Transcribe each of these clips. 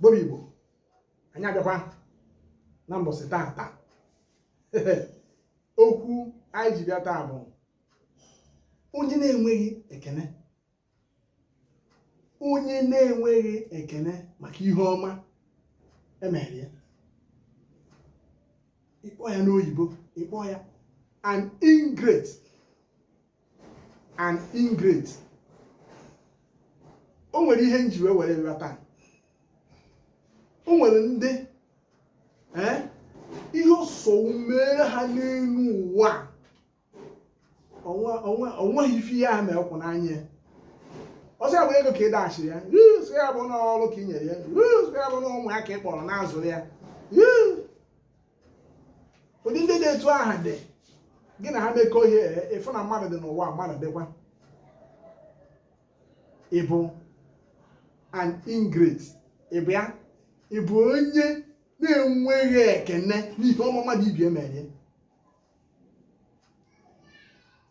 bobi igbo anyị abịakwa na mbọsị taa taa okwu anyị ji bịa taa bụ onye na-enweghị ekene onye na-enweghị ekene maka ihe ọma e mere ya ị kpọọ ya n'oyibo ị kpọọ ya an ingrate an ingrate o nwere ihe nji wee were nghọta o nwere ndị eh, ihe osowu mere ha n'elu ụwa o nweghị ife ihe ha mere kwụ n'anya ọ sọ ya bụ ego ka ị dashiri ya sọ ya bụ n'ọrụ ka ị nyere ya sọ ya bụ na ụmụ ya ka ị kpọrọ na-azụrụ ya ụdị ndị dị etu aha dị gị na ha mekọọ ihe ị fụ na mmadụ dị n'ụwa mmadụ dịkwa ịbụ an ingrate ịbụ ya ịbụ onye na-enweghị ekene n'ihe ọma mmadụ ibe ya mere ya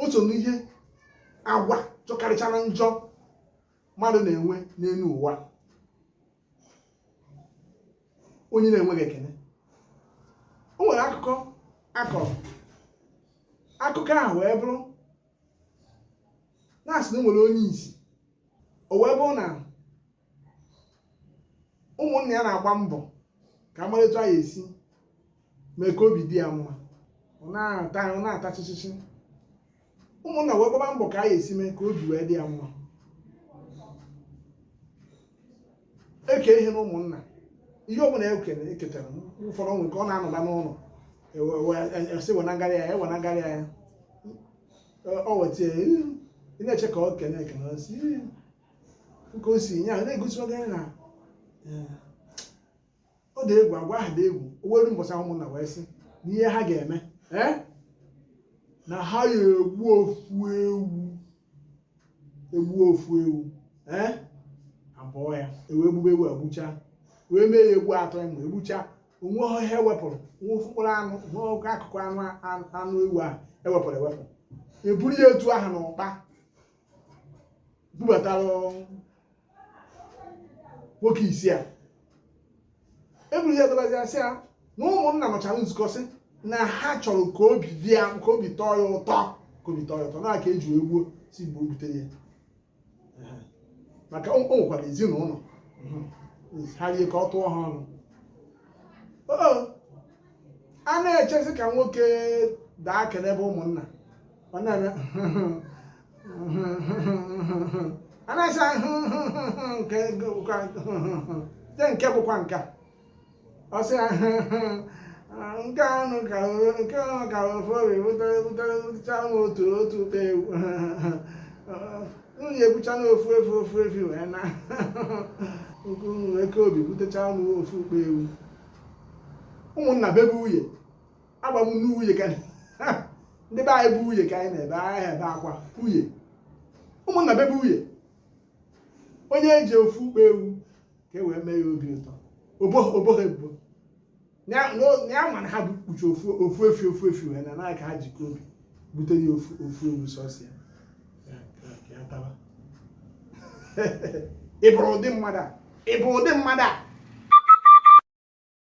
o so n'ihe agwa jọkarịchara njọ mmadụ na-enwe n'elu ụwa onye na-enweghị ekene o nwere akụkọ a kọrọ akụkọ ahụ wee bụrụ na a sị na o nwere onye isi o wee bụrụ na ụmụnna ya na-agba mbọ ka a mara etu a ya-esi mee ka obi dị ya mma ọ na-ata chịchịchị ụmụnna wee gbaba mbọ ka a ya-esi mee ka obi wee dị ya mma e kee ihe na ụmụnna ihe ọbụla e kere e ketara ụfọdụ nwere ka ọ na-anọla n'ụlọ a sị wenagara ya e wenagara ya ọ weta ya ị na-eche ka ọ kene ekene ọ sị, "Ee, ka o si nye ahụ na-egosi oge na ee, ọ dị egwu agwa ahụ dị egwu o wee luo mbọsị ahụ ụmụnna wee sị na ihe ha ga-eme ee na ha ya-egbu ofu ewu egbu ofu ewu ee a bọọ ya e wee gbube ewu e gbucha wee mee ya egbu atọ ịmụ egbucha o nweghị ihe e wepụrụ nwa ofu mkpụrụ anụ nwa oke akụkụ anụ anụ ewu ahụ e wepụrụ ewepụ e buru ya etu ahụ na ụkpa bubatara nwoke isi a e buru ya dọbazi a sị ya na ụmụnna nọchara nzukọ sị na ha chọrọ ka obi dị ya ka obi tọọ ya ụtọ ka obi tọọ ya ụtọ na aka e ji wee gbuo si mgbe o butere ya maka o nwekwara ezinụlọ ha rie ka ọ tụọ ha ọnụ Oo, a na-echezi ka nwoke daa kenebe ụmụnna ụmụnna a na-asa nke bụkwa nke nke bụkwa nke a. ọ sị ya nke anụ ka o- nke ahụ ka ofu Obi butere butere bụcha nwa otu otu ọkpa ewu unu ebucha na ofu efu ofu efi wee na nke unu eke Obi butecha nwa ofu ọkpa ewu ụmụnna bebe uye agba m n'uye ka ndị be anyị bụ uye ka anyị na-ebe ahịa ebe akwa uye ụmụnna bebe uye onye e ji ofu ọkpa ewu ka e wee mee ya obi ụtọ o bo ha ebubo na ya ma na ha bụ kpuchi ofu efi ofu efi wee na naanị ka ha jikọ Obi bute ya ofu ewu sọsọ ya ị bụrụ ụdị mmadụ a ị bụ ụdị mmadụ a